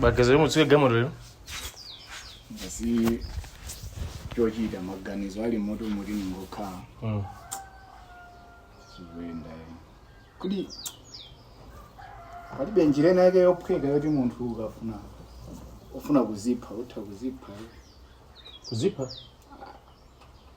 Bagazi lomwe usiye galimoto lero. Ndasowa chochita maganizo alimo oti ndingokhala Mm. zikuwoneka kuti palibe njira ina yake yophweka yoti munthu ukafuna ufuna kuzipha utha kuzipha Kuzipha.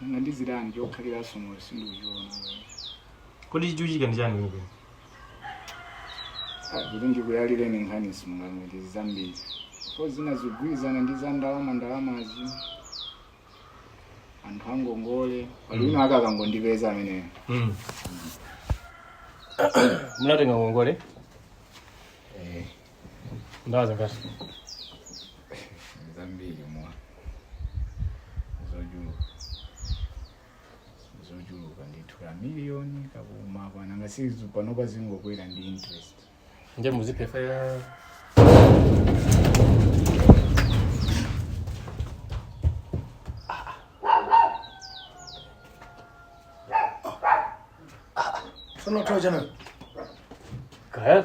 nanga ndizitani, chokhaliranso moyo sindikuchiona kodi chikuchitika ndi chani kwenikweni Ah, kuti ndikuyalireni nkhani simungamve ndi zambiri komanso zina zikugwirizana ndi za ndalama ndalamazi anthu angongole paliponse akangondipeza ameneyo Mm. munatenga ngongole ndalama zingati zambiri mwa zochuluka zochuluka ndithu ka miliyoni kakumakwana ngati panopa kakungokwera ndi interest nde muziphere Sono toja na. kaya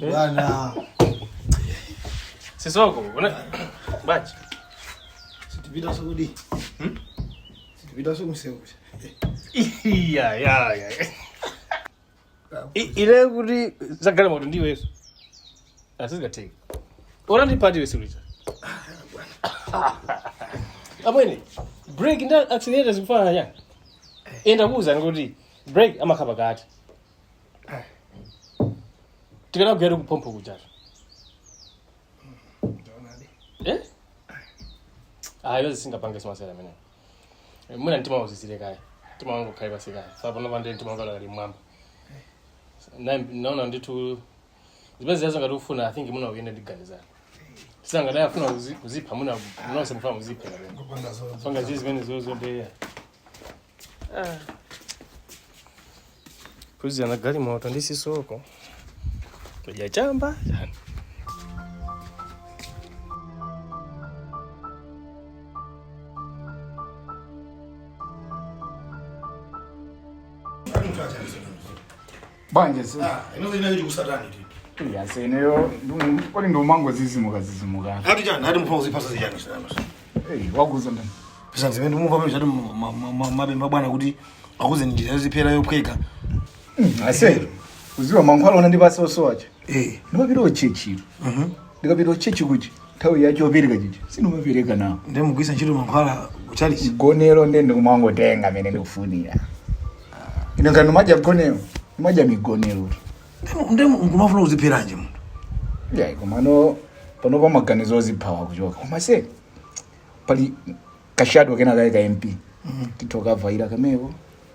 Bwana. Sisoko, una bachi. Situpita sokudi. Hmm? Situpita sokusewu. Iya, ya, ya. I- Ile kuti zagala moto ndiwe yesu. Asizingateki. Ora ndi pati wesu lita. Amwene, break nda accelerator zikufana nyanga. Enda kuuza ngoti break amakhapa kati. tikadzagwera kuphompho kujato Ndaonadi. Eh? Ah, yonse singapange simasera amene. Mwina mtima uzizire kaya. Mtima wangu ukhale pansi kaya. Sasa pano pande mtima wangu ali mwamba. Na naona ndithu zimene zazo ngati ufuna I think mwina uyende ndiganiza. Sasa ngati afuna kuzi- kuzipha mwina mnose mfana muziphe. Kupanga zozo. Panga zizi zimene zozo ndeya. Kuzi ana gari moto ndi sisoko. Kuja chamba. Yani. banja si Ah, inozo inali chikusatani ti. iya seneyo kodi ndikumangodzidzimuka dzidzimuka Ati chani, ati mufuna kuzipha za chani sana. Hey, wakuza ndani Pesa zimene mumva pamene choti timapempha bwana kuti akuuze njira yoziphera yophweka. ase udziwa mankhwala ona ndi basi chosowacho Eh. ndimapita kutchetchi Mhm. ndikapita ku church kuja nthawi ya chopereka chija sindimapereka nawo nde mugwiritsa ntchito mankhwala kuchalichi mgonero nde ndikumangotenga mmene ndikufunira ino ngati ndimadya mgonero ndimadya migonero nde nkumafuna kuzipheranji munthu yayi komano pano pa maganizo oziphawa kuchoka kumaso pali kashado kena kaye ka mp titokavaira kameko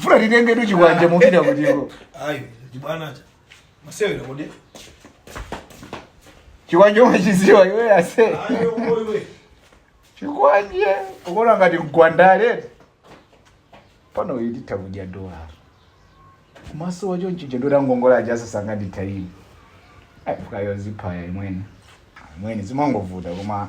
funa titengetu chikwanje mupita kuti ayi ndibwana za masewera kodi chikwanje umachidziwa iwe ase ayi okoiwe chikwanje ukuona ngati nkhwangwa pano ititha kudya kumaso wacho mchicha ndotangongola aja asasanga ndithu ine afunayo ziphe yayi mweni mweni zimangovuta koma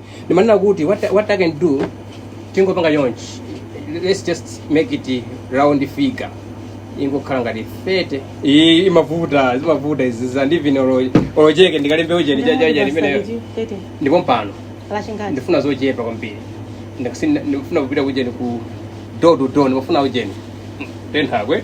ndimanena kuti what, I- what i can do tingopanga chonchi let's just make it round figure ingokhala ngati 30 iyi imavuta zimavuta izi zandivine olo cheke ndikalembe ujeni chachaja limeneyo ndi pompano lachingati ndifuna zochepa kwambiri Ndikusi- ndifuna kupita kujeni ku door to door ndimafuna ujeni ten hake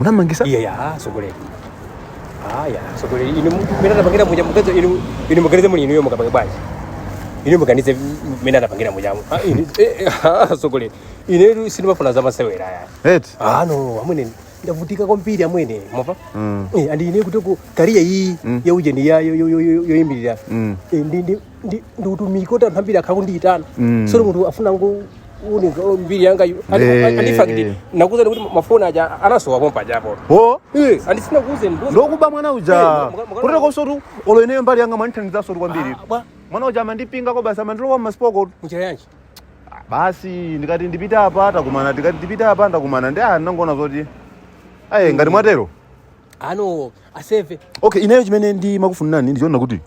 unamangisa iya ya sogoleri aya sogoleri inu mene anapangira muja mukazo inu inu muganize muli inuyo mukapange bwanji inu muganize mene anapangira muja mu- Ah, inu- eh, eh, ah, sogoleri inetu sindimafuna za masewera aya eti ana amwene ndavutika kwambiri amwene mwamva Mm. Eh, andi ine kutiko kariya iyi yaujeni ndi yayo yoyimirira Mm. ndi ndi ndi ndi utumiki kuti anthu ambiri akhala kundiitana Mm. zoti munthu afuna angoona mbiri yanga yu- andi- Eh. andi- andifakiti nakuuzani kuti mafoni aja anasowa pompa ajapo o Eh, andisina kuuzeni ndiuze- ndokuba mwana uja Eh, muka- muka- kutero nsotu olo ineyo mbali yanga mwandithandizanso kwambiri Ah, bwa mwana uja amandipinga kobasi amandilowa mmasipoko muchira yanji basi ndikati ndipite apa takumana ndikati ndipite apa ndakumana ndi ah ndangoona zoti ayi ngati mwatero ano aseve okay ineyo chimene ndimakufunirani ndichonena kuti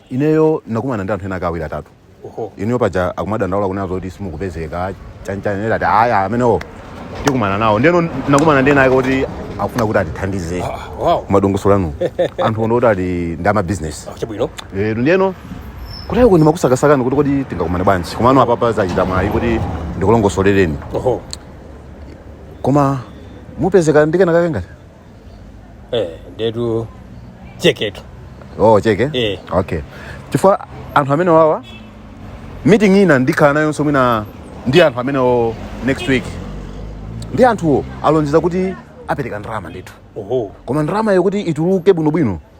ineyo ndakumana ndi anthu ena angapo awiri atatu oho ineyo paja akumadandaula kunena zoti simukupezeka chanichani ndati aya amenewo tikumana nawo ndeno ndakumana ndi enaake kuti akufuna kuti atithandize Ah, umo madongosolo anu anthu ono kuti ali ndi amabizinesi Ah, chabwino lero ndiyeno nde ine ndimakusakasakani kuti kodi tingakumane bwanji komano apapa zachita mwayi kuti ndikulongosolereni oho koma mupezeka ndi kena kake ngati eh ndetu cheketu oh cheke Eh. okay chifukwa anthu amenewawa meeting ina ndikhala nayonso mwina ndi anthu amenewo next week nde anthuwo alonjeza kuti apereka ndalama ndithu oho koma ndalama yokuti ituluke bwinobwino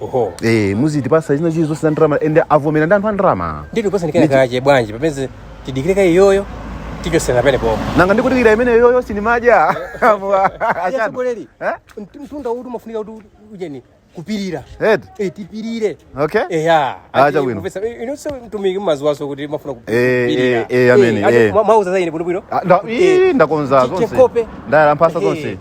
oho eh muzitipasa zina zilizonse za ndalama ende avomera ndi anthu a ndalama nde kusanikira kake bwanji pameze tidikire ka iyoyo tichotsera pamenepo nanga ndikudikira imeneyoyo sinimadya asogoleri Eh? mtunda uti umafunika kuti ujeni kupirira Ed, Eh, tipirire okay eya Ah chabwino. inunso mtumiki mmadziwanso kuti mafuna Eh, eh, eh, amene, eh. mwauza zaine bwinobwino Ah, nda- ii, ndakonza zonse che kope ndayala mphasa zonse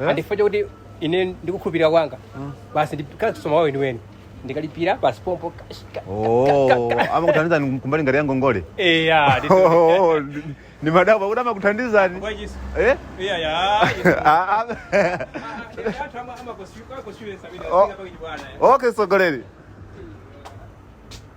Eh? ndi chifukwa chakuti ine ndikukhulupirira kwanga basi ndikasowa wawo weniweni ndikalipira basi pompo kash- ka- Oh, amakuthandizani kumbali ngati yangongole eya ndi- Oh, ndi- ndimadabwa kuti amakuthandizani Kwa Yesu. Eh? Eya, ya, Yesu. Ah, ah. Anthu ama- amakosi- amakosi- amene Oh. asiyana pakiti bwana, eh. okay sogoleri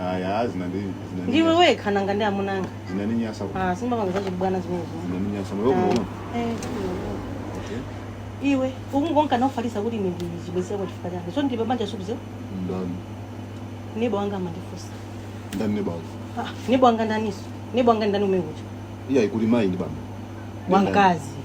Aya zinandinyasa. ndiwe wekha nanga ndi amuna anga Zinandinyasa. Ah, sindipanga zachibwana zimenezo Zinandinyasa. Mwe mwe. Eh, iwe ukungonka nawufalitsa kuti ine ndili ndi chibwenzi kwa chifukwa chake so ndili pabanja wakuuza Ndani. neba wanga amandifunsa Ndani neba wako. Ah, neba wanga ndaniso neba wanga ndani umekucha Iya ikuli mai ndi bambo. wamkazi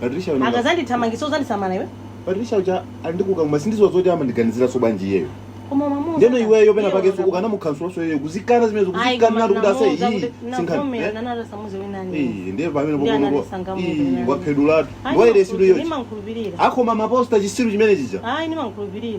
Patricia mwanangu. akazandithamangitsa uzandisamala iwe Patricia uja ndikuti koma sindidziwa zoti amandiganizira so bwanji iyeyo. koma mamuza Ndeno iweyo pena pake so ukanamukhazikaso so iyeyo kuzikana zimene zikuzikana kuti kuti ase iyi sinkhani. Eh? Eh, ndiye pamene Ndiye popo anandisangalatsa iyi nani. waphedwatu. Waire sidu yochi. ndimankhulupirira Akumaposta chisiru chimene chija. ayi ndimankhulupirira